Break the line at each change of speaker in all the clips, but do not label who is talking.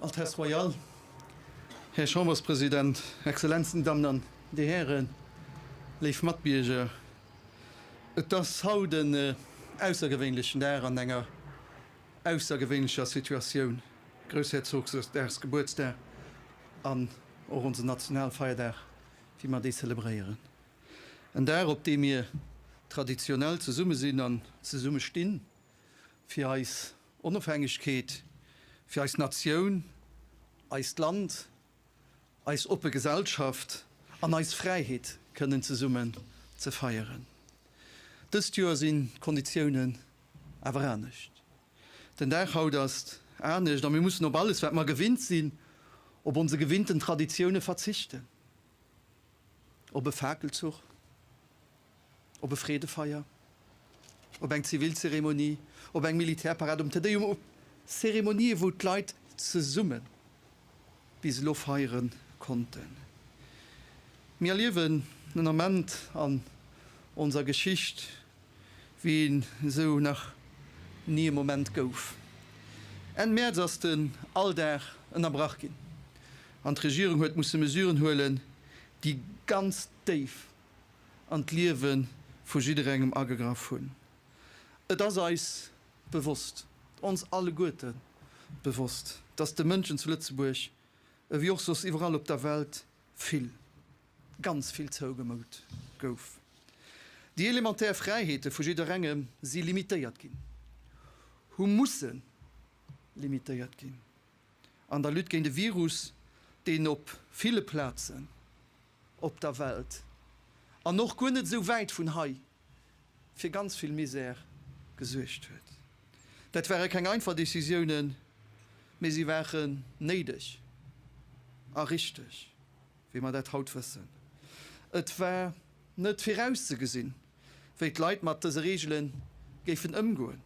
Altesse Royale, Här Chamberspresident, Exzellenzen, Dir Dammen an Dir Hären, léif Matbierger, et ass haut en aussergewéinlechen Dag an enger aussergewéinlecher Situatioun, Groussherzogdagsgebuertsdag an och onsen Nationalfeierdag, wéi mer dee zelebréieren. En Dag, op dee mir traditionell zesumme sinn an zesumme stinn, fir eis Onofhängegkeet, fir eis Natioun, eist Land, eis oppe Gesellschaft an eis Fräiheet kënnen zesummen ze feieren. Dëst Joer sinn d'Konditiounen awer anescht. Den Dag haut ass anescht a mir mussen op alles, wat mer gewinnt sinn, op onse gewinnten Traditioune verzichten. Op e Fakelzuch? Op e Freedefeier? Op eng Zivilzeremonie? Op eng Militärparad? Um Te-Deum? Op Zeremonië wou d'Leit zesumme bis elo feiere konnten? Mir erliewen en Ament an onser Geschicht, wéi en esou nach ni e Moment gouf. Enn Mäerz ass den Alldag ënnerbrach ginn an d'Regierung huet musse Mesuren huelen, déi ganz déif an d'Liewe vu jidderengem agegraff hunn. Et ass eis bewosst, ons alleguerte bewosst, datt de Mënschen zu Lëtzebuerg, ewéi och soss iwwerall op der Welt, vill, ganz vill zougemout gouf, déi elementär Fräiheete vu jidderengem si limitéiert ginn, hu musse limitéiert ginn an der Lutte géint e Virus, deen op ville Plazen op der Welt an och guer net esou wäit vun hei fir ganz vill Misär gesuergt huet. Dat ware keng einfach Decisiounen, mee si ware néideg a richteg. wéi mer dat haut wëssen. Et war net virauszegesinn, wéi d'Leit mat dëse Reegele géifen ëmgoen,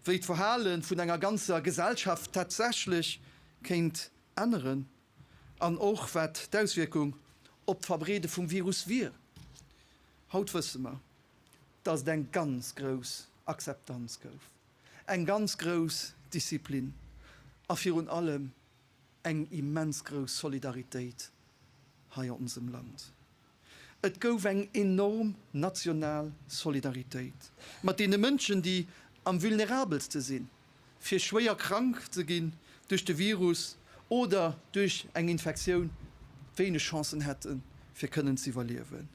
wéi d'Verhale vun enger ganzer Gesellschaft tatsächlech kéint änneren an och wat d'Auswierkung op d'Verbreede vum Virus wier. Haut wësse mer, datt et eng ganz grouss Akzeptanz gouf, eng ganz grouss Disziplin a virun allem Eng immens grouss Solidaritéit hei a onsem Land. Et gouf eng enorm national Solidaritéit mat deene Mënschen, déi am vulnerabelste sinn, fir schwéier krank ze ginn duerch de Virus oder duerch eng Infektioun wéineg Chancen hätten, fir kënnen z'iwwerliewen.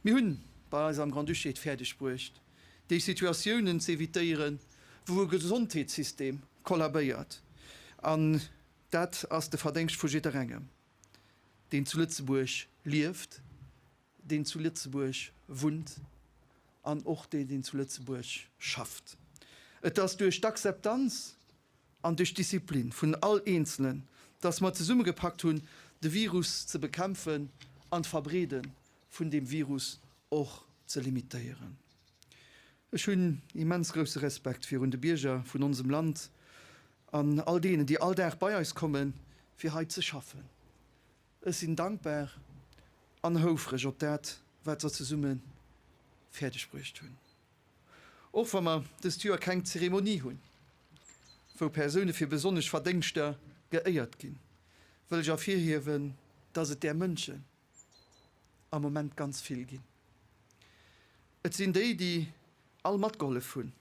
Mir hunn bei eis am Grand-Duché et fäerdeg bruecht, déi Situatiounen z'evitéieren, wou e Gesondheetssystem kollabéiert, an dat ass de Verdéngscht vu jidderengem, deen zu Lëtzebuerg lieft, deen zu Lëtzebuerg wunnt an och deen, deen zu Lëtzebuerg schafft. Et ass duerch d'Akzeptanz an duerch d'Disziplin vun all Eenzelen, dass mer zesummegepakt hunn, de Virus ze bekämpfen an d'Verbreeden vun deem Virus och ze limitéieren. Ech hunn immens grousse Respekt virun de Bierger vun onsem Land an all deenen, déi all Dag bei eis kommen, fir hei ze schaffen. Ech sinn dankbar an houfreg op dat, wat se zesumme fäerdeg bruecht hunn. Och wa mer dëst Joer keng Zeremonie hunn, wou Persoune fir besonnesch Verdéngschter geéiert ginn, wëll ech ervirhiewen, dass et där Mënschen, am Moment ganz vill ginn. Et sinn déi, déi all matgehollef hunn,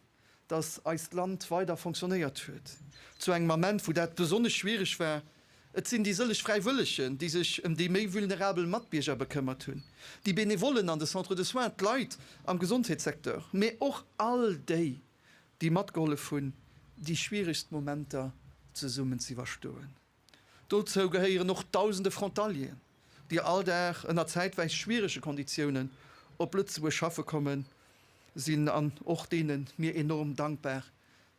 dass eist Land weider fonctionnéiert huet zu engem Ament, wou dat besonnesch schwierig war. Et sinn déi sëlleg Fräiwëllegen, déi sech ëm déi méi vulnerabel Matbierger bekëmmert hunn, déi Benevollen an de Centres de soins, d'Leit am Gesondheetssecteur, mä och all déi, déi matgehollef hunn, déi schwierigst Momenter zesummen z'iwwerstoen. Dozou gehéieren och dausende Frontalieren, déi all Dag ënner zäitwäis schwierege Konditiounen op Lëtzebuerg schaffe kommen sinn an och deene mir enorm dankbar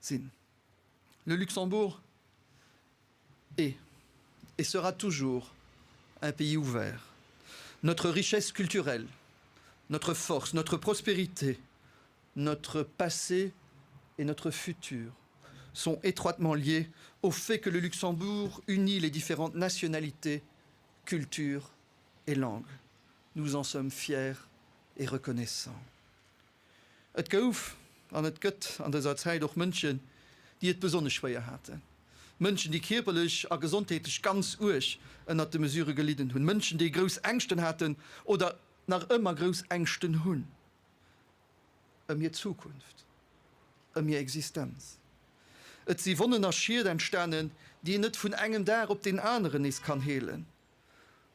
sinn. Le Luxembourg est et sera toujours un pays ouvert. Notre richesse culturelle, notre force, notre prospérité, Notre passé et notre futur sont étroitement liés au fait que le Luxembourg unit les différentes nationalités, cultures et langues. Nous en sommes fiers et reconnaissants. Et gouf an et gëtt an dëser Zäit och Mënschen, déi et besonnesch schwéier haten. Mënschen, déi kierperlech a gesondheetlech ganz uerg ënnert de Mesurë gelidden hunn. Mënschen, déi grouss Ängschten haten oder nach ëmmer grouss Ängschten hunn. ëm hir Zukunft, ëm hir Existenz. Et si Wonnen a Schied entstanen, déi een net vun engem Dag op deen aneren nees kann heelen.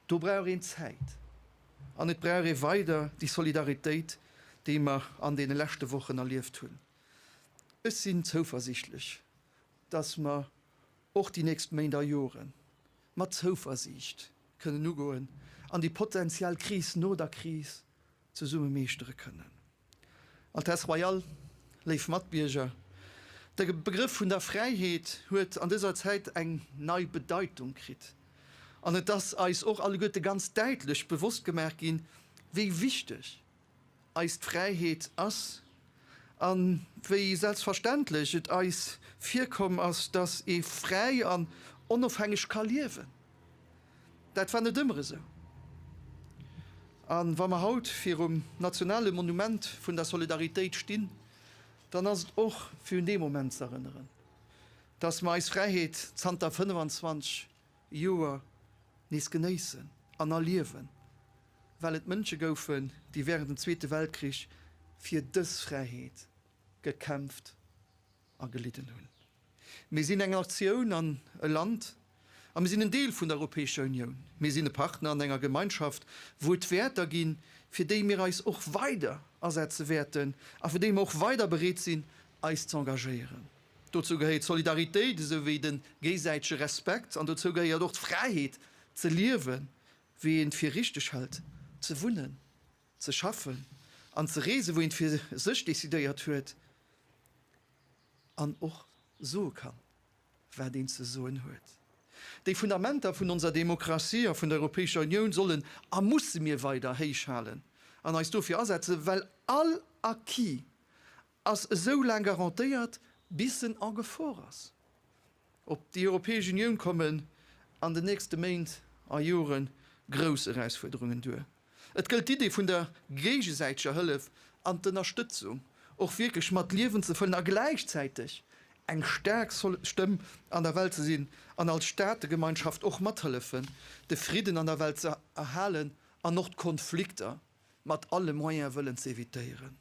Do brauch een Zäit an et brauch ee weider déi Solidaritéit, déi mer an deene leschte Wochen erlieft hunn. Ech sinn zouversichtlech, datt mer och déi nächst Méint a Jore mat Zouversiicht kënnen ugoen an déi potenziell Kris no der Kris zesumme meeschtere kënnen. Altesse Royale, léif Matbierger, de Begrëff vun der Fräiheet huet an dëser Zäit eng nei Bedeitung kritt an et ass eis och alleguerte ganz däitlech bewosst gemaach ginn, wéi wichteg eis d'Fräiheet ass a wéi selbstverständlech et eis virkomm ass, dass ee fräi an onofhängeg ka liewen. Dat war net ëmmer esou. A wa mer haut virum nationale Monument vun der Solidaritéit stinn, dann ass et och fir un dee Moment ze erënneren, datt mer eis Fräiheet zanter 25 Joer nees genéissen an erliewen, well et Mënsche goufen, déi wärend dem Zweete Weltkrich fir dës Fräiheet gekämpft. agelidden hunn. Mir sinn eng Natioun an e Land a mir sinn en Deel vun der Europäescher Unioun. Mir sinn e Partner an enger Gemeinschaft, wou et Wäerter ginn, fir déi mir eis och weider asetze wäerten a fir déi mir och weider bereet sinn, eis ze engagéieren. Dozou gehéiert d'Solidaritéit esou wéi de géisäitege Respekt an dozou gehéiert och d'Fräiheet, ze liewen, wéi een et fir richteg hält, ze wunnen, ze schaffen an ze reesen, wou een fir sech decidéiert huet an och soe kann, wat een ze soen huet. Déi Fundamenter vun onser Demokratie a vun der Europäescher Unioun sollen a musse mir weider héich halen an eis dofir asetzen, well all Acquis ass esou laang garantéiert bis en en Gefor ass. Op déi Europäesch Unioun kommen an den nächste Méint a Jore grouss Erausfuerderungen duer. Et gëllt d'Idee vun der géigesäiteger Hëllef an d'Ënnerstëtzung och wierklech mat Liewen ze fëllen a gläichzäiteg eng staark Stëmm an der Welt ze sinn an als Staategemeinschaft och mathëllefen de Fridden an der Welt ze erhalen an och d'Konflikter mat alle Moyen wëllen ze evitéieren.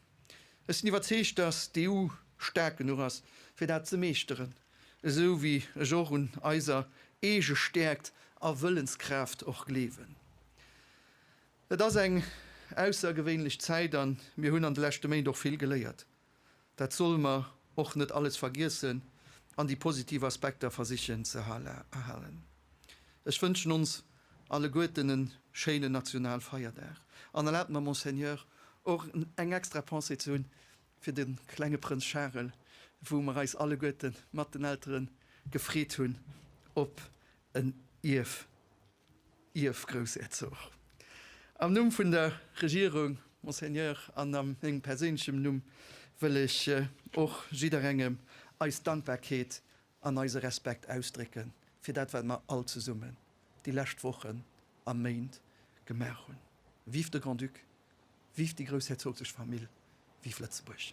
Ech sinn iwwerzeegt, dass d'EU staark genuch ass, fir dat ze meeschteren, esou wéi ech och un eiser eege Stäerkt a Wëllenskraaft och gleewen. Et ass eng aussergewéinlech Zäit, a mir hunn an de leschte Méint och vill geléiert. Dat solle mer och net alles vergiessen an déi positiv Aspekter versichen ze erhalen. Ech wënschen ons alleguerten e schéinen Nationalfeierdag an erlaabt mer, Monseigneur, och eng extra Pensée ze hunn fir de klenge Prënz Charel, wou mer eis alleguerte mat den Eltere gefreet hunn op en Ierf. Ierfgroussherzog. Am Numm vun der Regierung, Monseigneur, an a mengem perséinlechem Numm wëll ech och jidderengem eis Dankbarkeet an eise Respekt ausdrécke fir dat, wat mer all zesummen déi lescht Wochen a Méint gemaach hunn. Vive de Grand-Duc, vive déi groussherzoglesch Famill, vive Lëtzebuerg!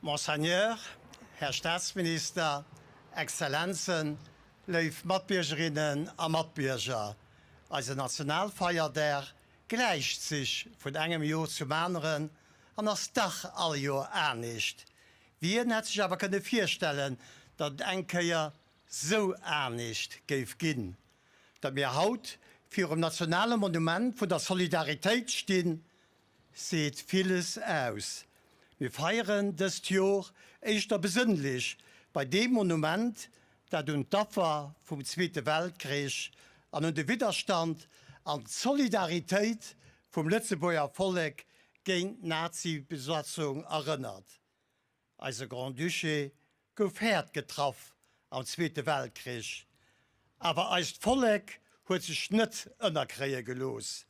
Monseigneur, Här Staatsminister, Exzellenzen, léif Matbiergerinnen a Matbierger, eise Nationalfeierdag gläicht sech vun engem Jor zum aneren an ass dach all Jor anescht. Wien hätt sech awer kënne virstellen, datt et eng Kéier sou anescht géif ginn, datt mir haut virum nationale Monument vun der Solidaritéit stinn, seet villes aus. Mir feieren dëst Jor éischter besënnlech bei deem Monument, dat un d'Affer vum Zweete Weltkrich an un de Widderstand an d'Solidaritéit vum Lëtzebuerger Vollek géint d'Nazi-Besatzung erënnert. Eise Grand-Duché gouf haart getraff am Zweete Weltkrich, awer eist Vollek huet sech net ënnerkréie gelooss.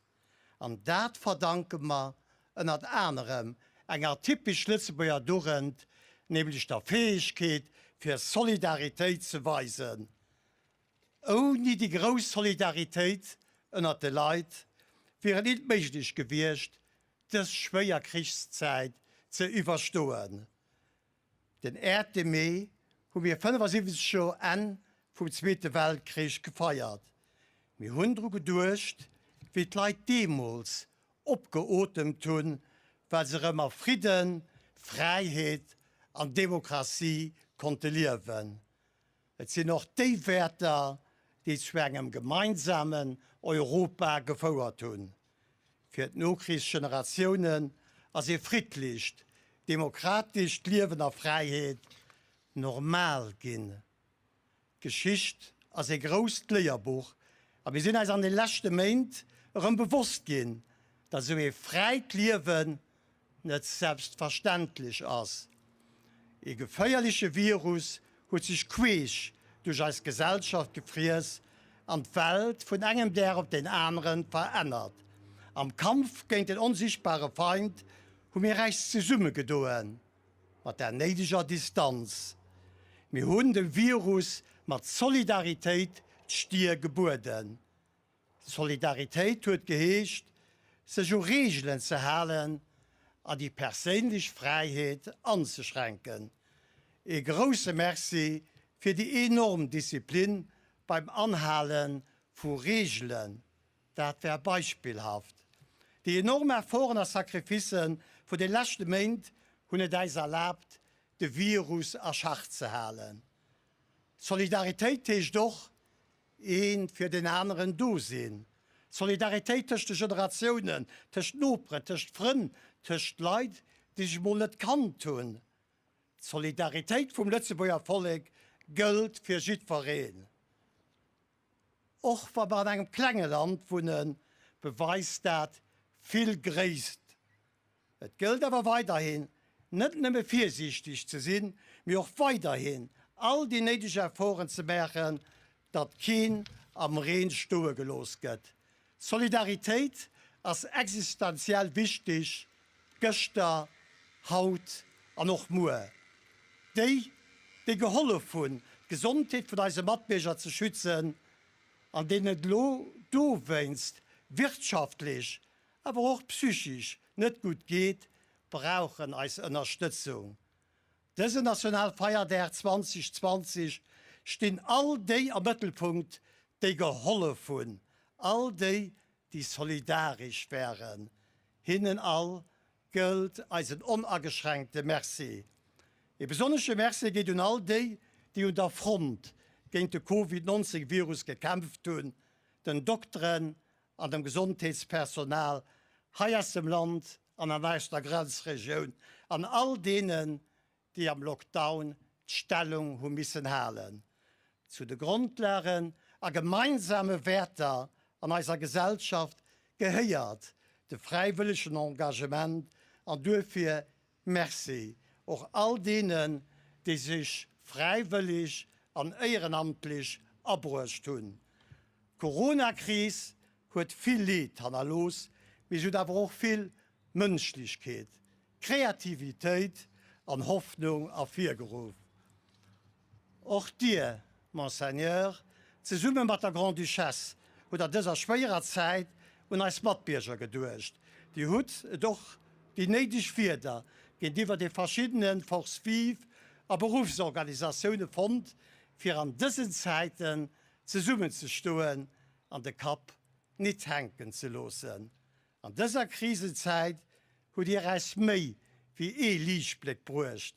An dat verdanke mer ënnert anerem enger typesch Lëtzebuerger Dugend, nämlech der Fäegkeet fir Solidaritéit ze weisen. Ouni déi grouss Solidaritéit ënnert de Leit wier et nit méiglech gewiescht, dës schwéier Krichszäit ze iwwerstoen. Den Äerte Mee hu mir 75 Joer Enn vum Zweete Weltkrich gefeiert. Mir hunn dru geduecht, wéi d'Leit deemools opgeotemt hunn, well se erëm a Fridden, Fräiheet an Demokratie konnte liewen. Et sinn och déi Wäerter, déi zu engem gemeinsamen Europa gefouert hunn. Fir d'Nokrichsgeneratiounen ass ee friddlecht, demokratescht Liewen a Fräiheet normal ginn. D'Geschicht ass ee grousst Léierbuch a mir sinn eis an de leschte Méint erëm bewosst ginn, datt esou ee fräit Liewen net selbstverständlech ass. Ee geféierleche Virus huet sech queesch duerch eis Gesellschaft gefriess an d'Welt vun engem Dag op den aneren verännert. Am Kampf géint den onsichtbare Feind hu mir eis zesumme gedoen, mat der néideger Distanz. Mir hunn dem Virus mat Solidaritéit d'Stier gebueden. Solidaritéit huet geheescht, sech u Reegelen ze halen a déi perséinlech Fräiheet anzeschränken. Ee grousse Merci fir déi enorm Disziplin beim Anhale vu Reegelen, dat war beispillhaft. Déi enorm Efforten a Sacrificë vun de leschte Méint hunn et äis erlaabt, de Virus a Schach ze halen. Solidaritéit heescht och, Een fir den aneren do sinn. Solidaritéit tëscht de Generatiounen, tëscht Noperen, tëscht Frënn, tëscht Leit, déi sech mol net kannt hunn. D'Solidaritéit vum Lëtzebuerger Vollek gëllt fir jiddwereen. Och wa mer an engem klenge Land wunnen, beweist dat vill Gréisst. Et gëllt awer weiderhin, net nëmme virsiichteg ze sinn, mee och weiderhin all déi néideg Efforten ze maachen, datt keen am Reen stoe gelooss gëtt. Solidaritéit ass existenziell wichteg, gëschter, haut an och muer. Déi, déi gehollef hunn, d'Gesondheet vun eise Matbierger ze schützen, an deenen et elo dowéinst wirtschaftlech awer och psychisch net gutt geet, brauchen eis Ënnerstëtzung. Dësen Nationalfeierdag 2020 stinn all déi am Mëttelpunkt, déi gehollef hunn, all déi, déi solidarisch waren. Hinnen all gëllt eisen onageschränkte Merci. Ee besonnesche Merci geet un all déi, déi un der Front géint de Covid 19 Virus gekämpft hunn, den Dokteren an dem Gesondheetspersonal hei aus dem Land an an eischter Grenzregioun an all deenen, déi am Lockdown d'Stellung hu missen halen zu de Grondlagen a gemeinsame Wäerter an eiser Gesellschaft, gehéiert de fräiwëllegen Engagement an duerfir Merci och all deenen, déi sech fräiwëllig an éierenamtlich abruecht hunn. D'Corona-Kris huet vill Leed hannerlooss, mee se huet awer och vill Mënschlichkeet, Kreativitéit an Hoffnung ervirgeruff. Och Dir, Monseigneur, zesumme mat der Grande-Duchesse, hutt an dëser schwéierer Zäit un eis Matbierger geduecht. Dir hutt et och déi néideg Wierder géintiwwer de verschiddene Forces vives a Beruffsorganisatioune fonnt, fir an dësen Zäiten zesummenzestoen an de Kapp nit hänken ze loossen. An dëser Krisenzäit hutt Dir eis méi wéi ee Liichtbléck bruecht.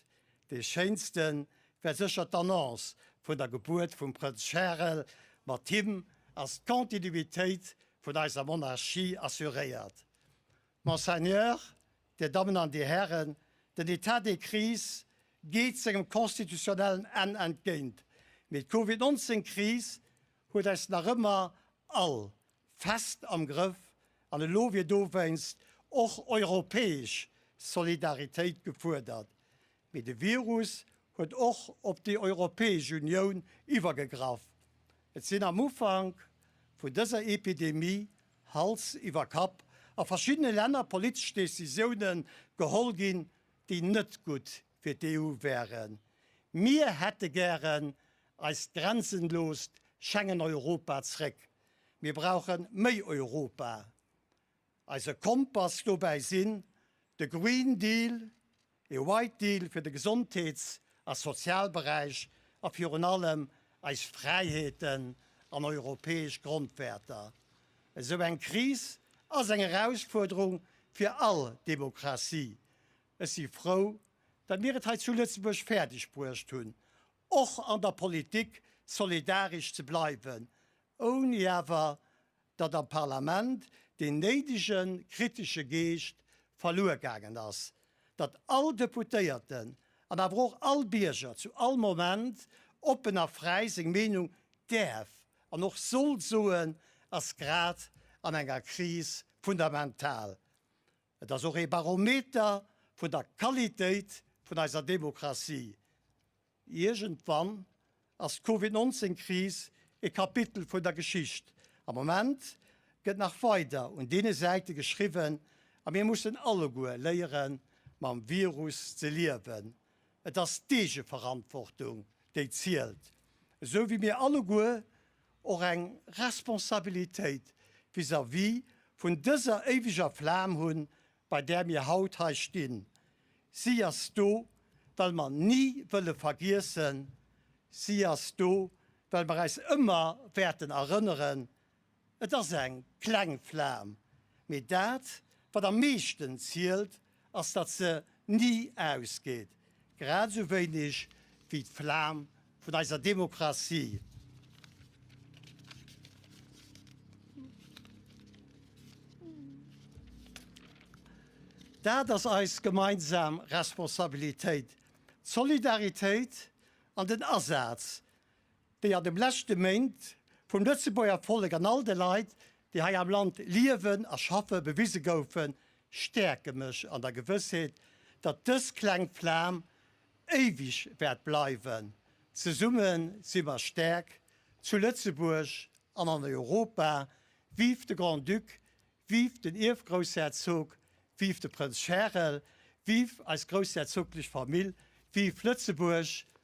Dee schéinste war sécher d'Annonce vun der Gebuert vum Prënz Charel. Mat him ass d'Continuitéit vun eiser Monarchie assuréiert. Monseigneur, Dir Dammen an Dir Hären, den Etat de crise geet sengem constitutionnellen Enn entgéint, mee d'Covid 19 Kris huet eis nach ëmmer all fest am Grëff an elo wier dowéinst och europäesch Solidaritéit gefuerdert. Mee de Virus huet och op déi Europäesch Unioun iwwergegraff. Et sinn am Ufank vun dëser Epidemie Hals iwwer Kapp a verschiddene Länner politesch Decisioune geholl ginn, déi net gutt fir d'EU wären. Mir hätte gären eist grenzenloost Schengen-Europa zréck. Mir brauche méi Europa. Eise Kompass dobäi sinn de Green Deal, ee White Deal fir de Gesondheets a Sozialberäich a virun allem eis Fräiheeten an europäesch Grondwäerter. Esou eng Kris ass eng Erausfuerderung fir all Demokratie. Ech si frou, datt mir et hei zu Lëtzebuerg fäerdegbruecht hunn, och an der Politik solidaresch ze bleiwen, ouni awer datt am Parlament deen néidege kritesche Geescht verluer gaangen ass, datt all Deputéierten an awer och all Bierger zu all Moment oppen a fräi seng Meenung däerf an och soll soen, ass grad an enger Kris fundamental. Et ass och ee Barometer vun der Qualitéit vun eiser Demokratie. Iergendwann ass d'Covid 19 Kris ee Kapitel vun der Geschicht. Am Moment gëtt nach weider un deene Säite geschriwwen a mir mussen alleguer léieren mam Virus ze liewen. Et ass d'Eegeverantwortung, déi zielt, esou wéi mir alleguer och eng Responsabilitéit vis-à-vis vun dëser éiweger Flam hunn, bei där mir haut hei stinn. Si ass do, well mer ni wëlle vergiessen, si ass do, well mer äis ëmmer wäerten erënneren, Et ass eng kleng Flam, mee dat, wat am meeschten zielt, ass, datt se ni ausgeet, grad esou wéineg wéi d'Flam vun eiser Demokratie. Dat ass eis gemeinsam Responsabilitéit, d'Solidaritéit an den Asaz déi an dem leschte Méint vum Lëtzebuerger Vollek an all de Leit, déi hei am Land liewen a schaffen, bewise goufen, stäerke mech an der Gewëssheet, datt dës kleng Flam éiweg wäert bleiwen. Zesumme si mer stäerk, zu Lëtzebuerg an an Europa! Vive de Grand-Duc, vive den Ierfgroussherzog, vive de Prënz Charel, vive eis groussherzoglech Famill, vive Lëtzebuerg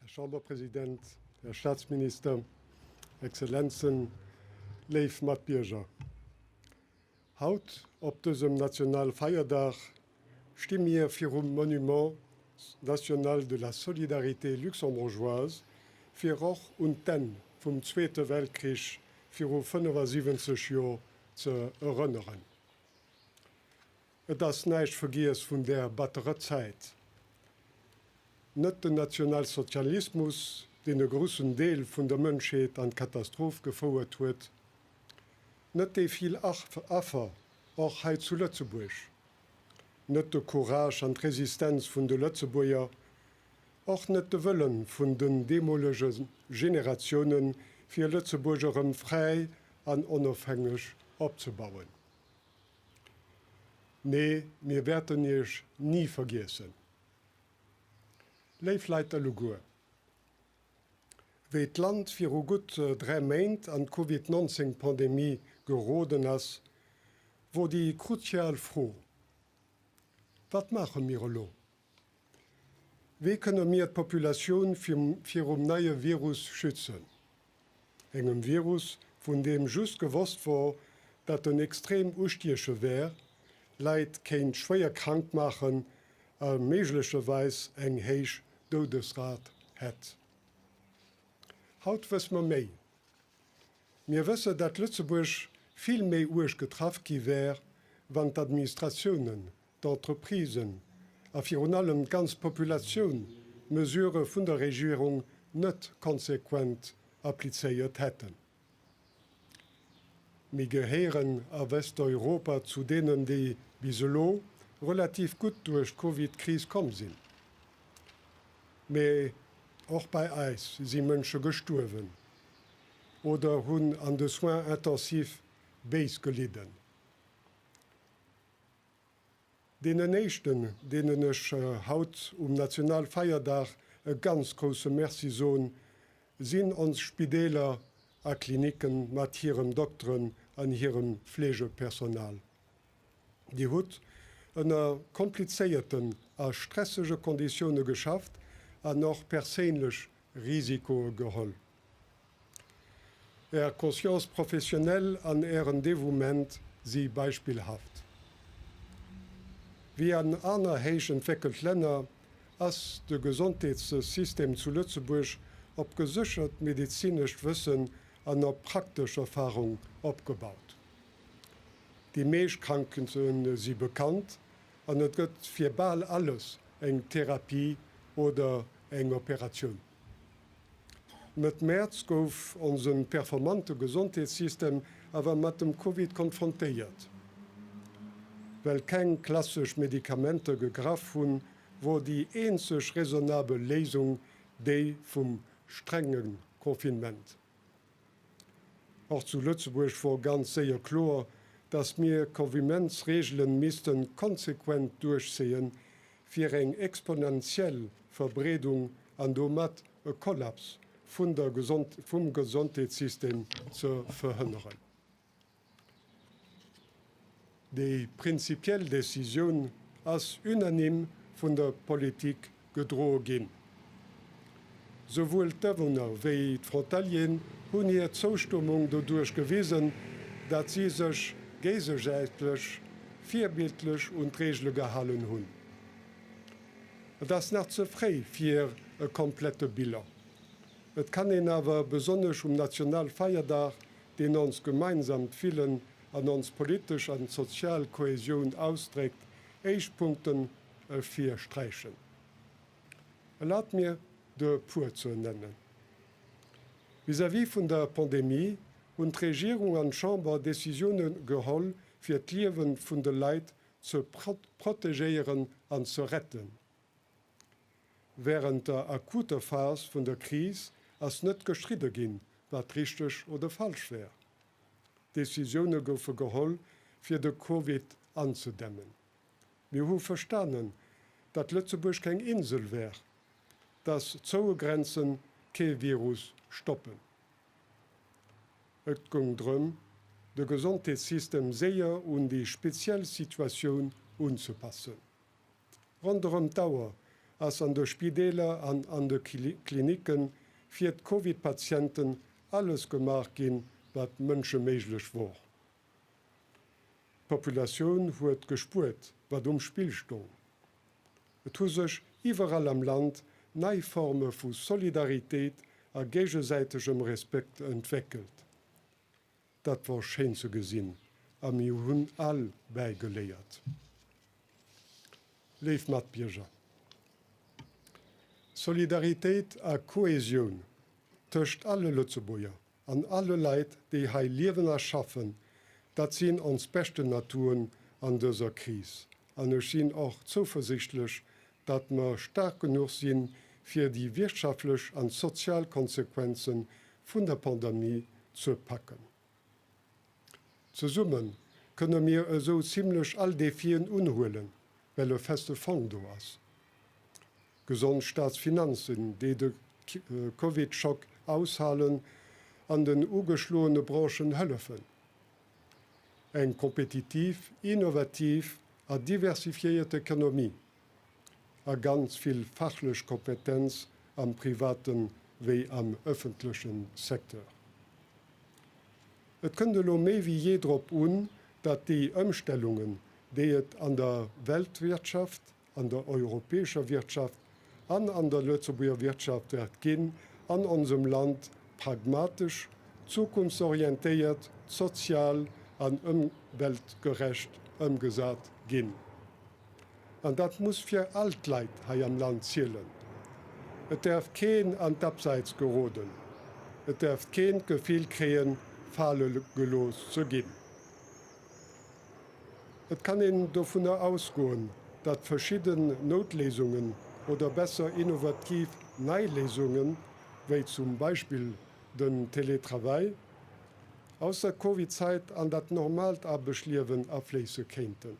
Här Chamberpresident, Här Staatsminister, Exzellenzen, léif Matbierger, haut op dësem nationale Feierdag sti mir virum Monument national de la solidarité luxembourgeoise, fir och un d'Enn vum Zweete Weltkrich viru 75 Joer ze erënneren. Et ass näischt vergiess vun där batterer Zäit. Net den Nationalsozialismus, deen e gruussen Deel vun der Mënschheet an d'Katastroph gefouert huet. Net déi vill Affer, och hei zu Lëtzebuerg. Net de Courage an d'Resistenz vun de Lëtzebuerger. Och net de Wëllen vun den deemolege Generatiounen, fir Lëtzebuerg erëm fräi an onofhängeg opzebauen. Mee mir wäerten Iech ni vergiessen. Léif Leit, alleguer, wéi d'Land viru gutt dräi Méint an d'Covid 19 Pandemie geroden ass, wor déi kruzial Fro, Wat maache mir elo? Wéi kënne mir d'Populatioun virum neie Virus schützen, engem Virus, vun deem just gewosst wor, datt en extrem ustieche wär, Leit kéint schwéier krank maachen a méiglecherweis eng héich Doudesrat hätt? Haut wësse mer méi. Mir wëssen, datt Lëtzebuerg vill méi uerg getraff gi wär, wann d'Administratiounen d'Entreprisen a virun allem d'ganz Populatioun d'Mesurë vun der Regierung net konsequent applizéiert hätten. Mir gehéieren a Westeuropa zu deenen, déi bis elo relativ gutt duerch d'Covid-Kris komm sinn. Mee och bei eis si Mënsche gestuerwen oder hunn an de Soins intensifs béis gelidden. Deenen éischten, deenen ech haut um Nationalfeierdag e ganz grousse Merci soen, sinn ons Spideeler a Klinicken mat hirem Dokteren an hirem Fleegepersonal. Dir hutt ënner komplizéierten a stressege Konditioune geschafft an och perséinlech Risikoe geholl. Är Conscience professionnelle an Ären Dévouement si beispillhaft. Wéi an aner héich entwéckelt Länner ass de Gesondheetssystem zu Lëtzebuerg op geséchert medezinescht Wëssen an op praktesch Erfarung opgebaut. Déi meescht Krankheete si bekannt an et gëtt fir bal alles eng Therapie oder eng Operatioun. Mëtt Mäerz gouf onse performante Gesondheetssystem awer mat dem Covid konfrontéiert. Well keng klassesch Medikamenter gegraff hunn, wor déi eenzeg raisonnabel Léisung déi vum strenge Confinement. Och zu Lëtzebuerg wor ganz séier kloer, dass mir Convimentsregelen missten konsequent duerchzéien, fir eng exponentiell Verbreedung an domat e Kollaps vun der vum Gesondheetssystem ze verhënneren. Déi prinzipiell Decisioun ass unanime vun der Politik gedroe ginn. Souwuel d'Awunner wéi d'Frontalieren hunn hir Zoustummung doduerch gewisen, datt si sech géisesäitlech virbildlech un d'Reegele gehalen hunn. Et ass nach ze fréi fir e komplette Bilan. Et kann een awer besonnesch um Nationalfeierdag deen onst gemeinsamt Willen an ons politesch an sozial Kohäsioun ausdréckt, éischt Punkten ervir sträichen. Erlaabt mir, de e puer ze ernennen. Vis-à-vis vun der Pandemie hunn d'Regierung an d'Chamber Décisioune geholl, fir d'Liewe vun de Leit ze protegéieren an ze retten. Wärend der akuter Phas vun der Kris ass net gestridde ginn, wat richteg oder falsch wär. Decisioune goufe geholl, fir de Covid anzedämmen. Mir hu verstanen, datt Lëtzebuerg keng Insel wär, datt zoue Grenze kee Virus stoppen. Et goung drëm, de Gesondheetssystem séier un déi speziell Situatioun unzepassen. Ronderëm d'Auer ass an de Spideeler an an de Klinicke fir d'Covid-Patienten alles gemaach ginn, wat Mënsche méiglech wor. D'Populatioun huet gespuert, wat um Spill stong. Et hu sech iwwerall am Land nei Forme vu Solidaritéit a géigesäitegem Respekt entwéckelt. Dat wor schéin ze gesin a mir hun all bäigeléiert. Léif Matbierger, Solidaritéit a Kohesioun tëscht alle Lëtzebuerger an alle Leit déi hei liewen a schaffen, dat sin ons beschten Atouen an dëser Kris an ech sin och zouversichtlech datt mer staark genuch sinn, fir déi wirtschaftlech an sozial Konsequenzen vun der Pandemie ze packen. Zesummen kënne mir esou zimlech all Defien unhuelen, well e feste Fong do ass, gesond Staatsfinanzen, déi de Covid-Schock aushalen an den ugeschloene Branchen hëllefen, Eng kompetitiv, innovativ a diversifiéiert Ekonomie a ganz vill fachlech Kompetenz am private wéi am ëffentleche Secteur. Et kënnt elo méi wéi jee drop un, datt déi Ëmstellungen, déi et an der Weltwirtschaft an der europäescher Wirtschaft an an der Lëtzebuerger Wirtschaft wäert ginn, an onsem Land pragmatesch, zukunftsorientéiert, sozial an ëmweltgerecht ëmgesat ginn. An dat muss fir all d'Leit hei am Land zielen. Et däerf keen an d'Abseits geroden, et däerf keen d'Gefill kréien, fale gelooss ze ginn. Et kann een dovunner ausgoen, datt verschidden Noutléisungen oder besser innovativ nei Léisungen, wéi zum Beispill den Télétravail, aus der Covid-Zäit an dat normaalt Arbechtliewen afléisse kéinten.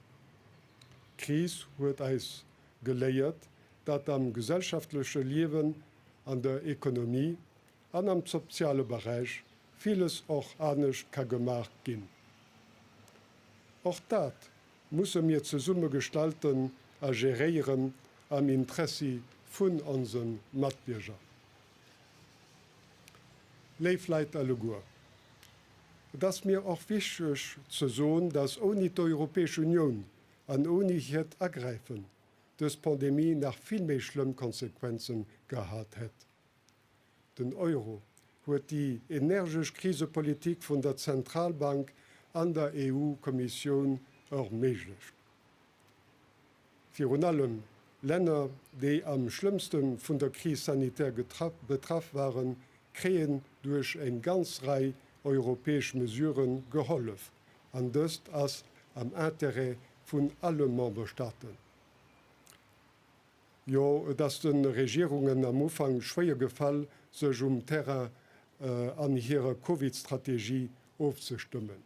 D'Kris huet eis geléiert, datt am gesellschaftleche Liewen, an der Ekonomie, an am soziale Beräich villes och anescht ka gemaach ginn. Och dat musse mir zesumme gestalten a geréieren am Intressi vun onse Matbierger. Léif Leit alleguer, et ass mir och wichteg ze soen, dass ouni d'Europäesch Unioun an ouni hiert Agräifen dës Pandemie nach vill méi schlëmm Konsequenze gehat hätt. Den Euro huet déi energesch Krisepolitik vun der Zentralbank an der EU-Kommissioun erméiglecht. Virun allem Länner, déi am schlëmmste vun der Kris sanitär betraff waren, kréien duerch eng ganz Rei europäesch Mesurë gehollef, an dëst ass am Interêt vun alle Memberstaaten. Jo, et ass de Regierungen am Ufank schwéier gefall, sech um Terrain an hirer Covid-Strategie ofzestëmmen.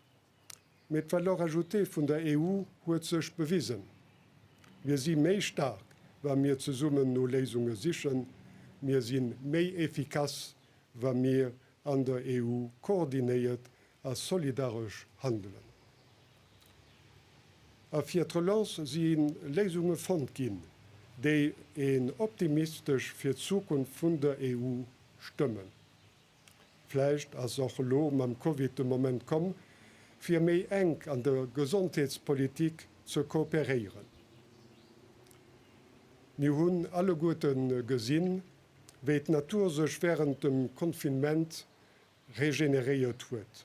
Mee d'Valeur ajoutée vun der EU huet sech bewisen. Mir si méi staark, wa mir zesummen no Léisunge sichen. Mir si méi efficace, wa mir an der EU koordinéiert a solidaresch handelen. A fir d'Relance si Léisunge fonnt ginn, déi een optimistesch fir d'Zukunft vun der EU stëmmen. Vläicht ass och elo mam Covid de Moment komm, fir méi enk an der Gesondheetspolitik ze kooperéieren. Mir hunn alleguerte gesinn, wéi d'Natur sech wärend dem Confinement regeneréiert huet.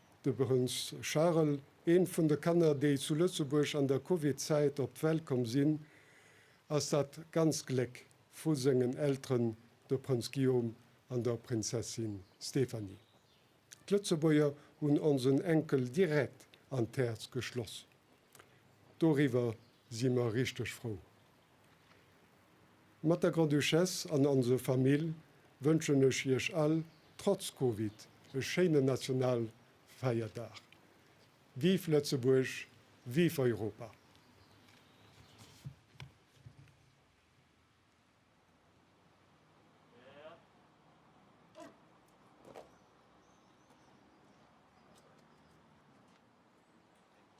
De Prënz Charles, eent vun de Kanner, déi zu Lëtzebuerg an der Covid-Zäit op d'Welt komm sinn, ass dat ganzt Gléck vu sengen Elteren, de Prënz Guillaume an der Prinzessin Stéphanie. D'Lëtzebuerger hunn onsen Enkel direkt an d'Häerz geschloss. Doriwwer si mer richteg frou. Mat der Grand-Duchesse an onse Famill wënschen ech Iech all, trotz Covid, e schéinen Nationalfeierdag. Vive Lëtzebuerg, vive Europa!